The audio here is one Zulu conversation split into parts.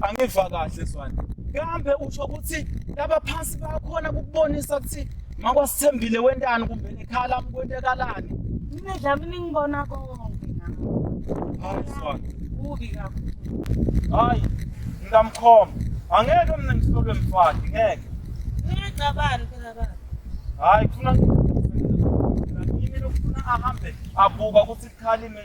angiva kahle zwane kambe usho ukuthi labaphansi bayakhona kukubonisa ukuthi makwasithembile wentani kumbe nekhala kwentekalani nidlami ningibona konke hayi zwane kubi kakhulu hayi ngingamkhoma angeke mina ngisolwe mfati ngeke ngiyacabani phela baba hayi kufuna yini lokufuna ahambe abuka ukuthi kukhalime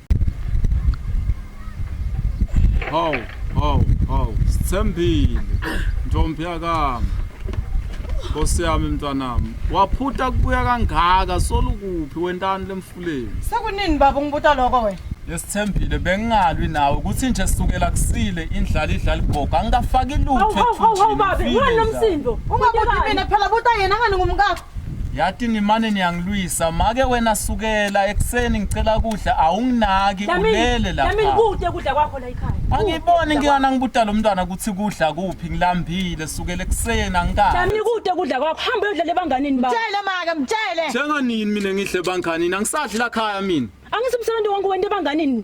Hawu, hawu, hawu, sithembile. Ntombi yakami. Nkosi yami mntwanami, waphutha kubuya kangaka solukuphi wentani lemfuleni. Sekunini baba ungibuta lokho wena? Esithembile bengingalwi nawe ukuthi nje sukela kusile indlala idlala igogo angikafaki lutho Hawu, hawu, hawu, hawu, babe, ethunjini, ngani ngifile nomsindo? Ungabuti mina phela buta yena ngani ngumkakho. yathi nimane niyangilwisa make wena sukela ekuseni ngicela kudla awunginaki ulele lapha nami ngikude kudla kwakho la ekhaya angiboni ngiyana ngibuda lo mntwana ukuthi kudla kuphi ngilambile sukela ekuseni angikani nami ngikude kudla kwakho hamba uyodla lebanganini ba mtshele make mtshele njenga nini mina ngidle banganini angisadli la khaya mina angithi umsebenzi wangu wente banganini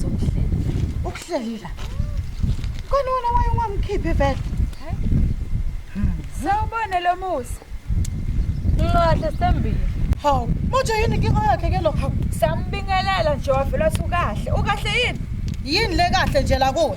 sokuhlela ukuhlelila kona wena waye ungamkhiphi vele sawubone lo musa nqahle sembili hawu manje yini inkinga yakhe ke lokho sambingelela nje wavela sukahle ukahle yini yini le kahle nje la kuwe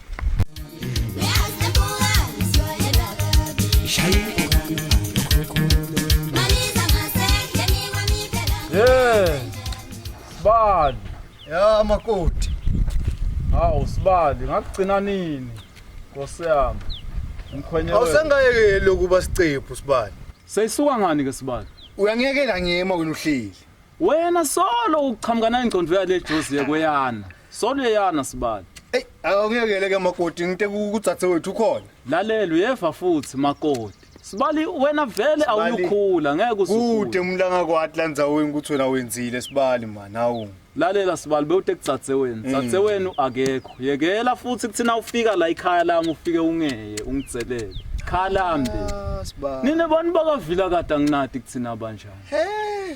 makoti hawu sibali ngakugcina nini nkosi yami mkhwenye awusangayekeli ukuba sicephu sibali seyisuka ngani ke sibali uyangiyekela ngiyema wena uhleli wena solo uqhamuka nayingcondo yale jozi yekweyana Soneyana sibali. Ey, awungekele ke makoti ngite kudzathe wethu ukhona. Lalela uyeva futhi makoti. Sibali wena vele awukhula ngeke usukhule. Kude umlanga kwathi landzaweni ukuthi wena wenzile sibali man awu. Lalela sibali bewute kudzathe wena. Mm. Dzathe wenu akekho. Yekela futhi kuthina ufika la ikhaya lami ufike ungeye ungidzelele. Khala mbe. Ah, sibali. Nina bani bakavila kade anginati kuthina banjani. Hey.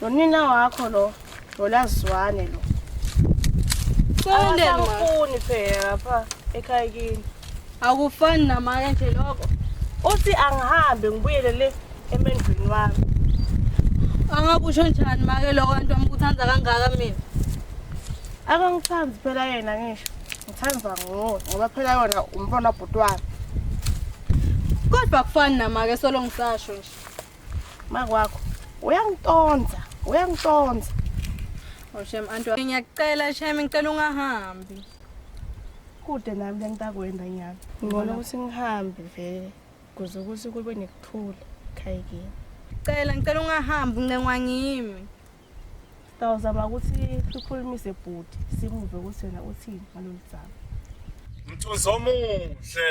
nonina wakho lo nolazwane lo Cele awafuni phela lapha ekhaya kini akufani namanye nje lokho uthi angihambe ngibuyele le emendweni wami angakusho njani make lokho antu amkuthanda kangaka mina akangithandi phela yena ngisho ngithanda nguwe ngoba phela yona umfana bhuti wami kodwa kufani namake solo ngisasho nje makwakho uyangitonza uyangitonza oshem oh, antu ngiyakucela shem ngicela ungahambi kude nami lengitakwenda nyana ngibona ukuthi ngihambe vele kuze ukuthi kube nekuthula khayikini cela ngicela ungahambi uncengwa ngimi sitawuzama ukuthi sikhulumise bhuti simuve ukuthi wena uthini ngalolu dzaba mthunzi omuhle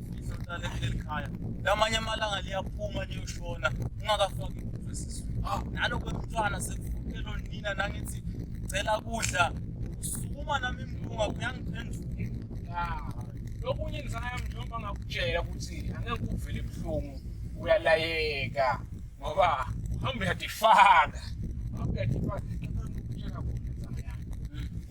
Ngizohlala kuleli khaya. Lamanye amalanga liyaphuma liyoshona ungakafaki imvubu esizweni. Ah, nalo kwemntwana sekuvukelo nina nangithi cela kudla. Usukuma nami impunga kuyangiphendula. Ah, lokunye ngizangayo mjomba ngakutshela ukuthi angeke uvele ebuhlungu uyalayeka ngoba uhamba uyadifaka. Uhamba uyadifaka.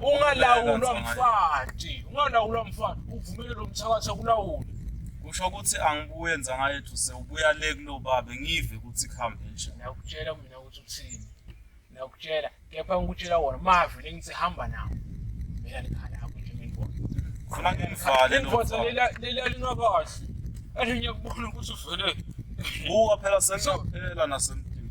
ungalawulwa mfati ungalawulwa mfati uvumele lo mthakathi akulawule kusho ukuthi angibuye nzangayethu sewubuya le kulo babe ngive ukuthi kuhambe nje nakutshela mina ukuthi uthini nakutshela kepha ngikutshela wona mavi lengithi hamba nawo mina nikhala yakho nje ngibona khona ngimvale lendoda lelalina kahle athi ngiyakubona ukuthi uvele buka phela sengaphela nasemdini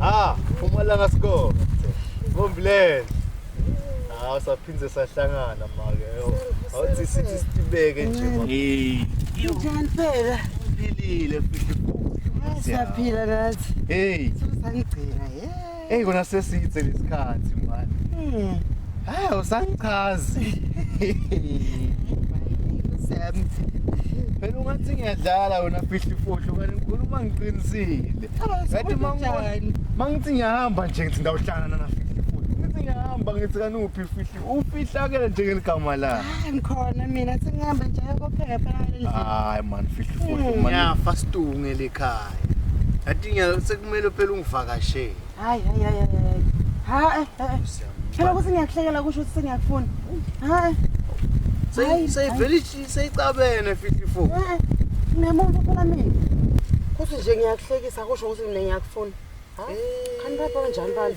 Ah, umalanga score. Ngomblend. Ah, saphinde sahlangana manje. Awuthi sithi sibeke nje manje. Hey. Njani phela? Philile futhi. Siyaphila nathi. Hey. Sangigcina. Yeah. Hey kona sesithe lesikhathi manje. Mm. Hayi usangichazi. Sam. Phela ungathi ngiyadlala wena fihli fohlo kanti ngikhuluma ngiqinisile. Kanti mangibona mangithi ngiyahamba nje ngithi ndawuhlangana na fihli fohlo. Ngithi ngiyahamba ngithi kanuphi fihli ufihlakele njengeligama la Hayi ngikhona mina sengihambe nje kopheka phela ngaleli viki. hayi man fihla ufufu man ngiyafa situnge lekhaya yathi ngiya- sekumele phela ungivakashele Hayi hayi hayi hayi, hayi. Hayi. hayi. Phela ukuthi ngiyakuhlekela kusho ukuthi sengiyakufuna. Hayi. Seyi- Hayi, seyivele ishi- seyicabene fihla ifufu Eh, eh, Nginemuntu phela mina. Kuthi nje ngiyakuhlekisa kusho ukuthi mina ngiyakufuna. Hayi. Khani baba kanjani bani?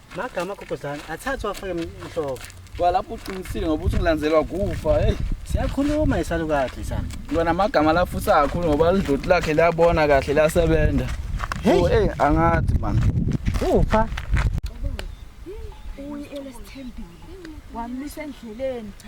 Magama gogozana athathwa afake mhloko. Kwalapho uqinisile ngoba uthi ngilandelwa kufa. Hey. Siyakhuluma isalukade sana. Ngibona amagama la futhi akakhulu ngoba lidloti lakhe liyabona kahle lasebenza. Hey, oh, hey angathi man. Upha. Uyi elesithembile. Wamisa endleleni cha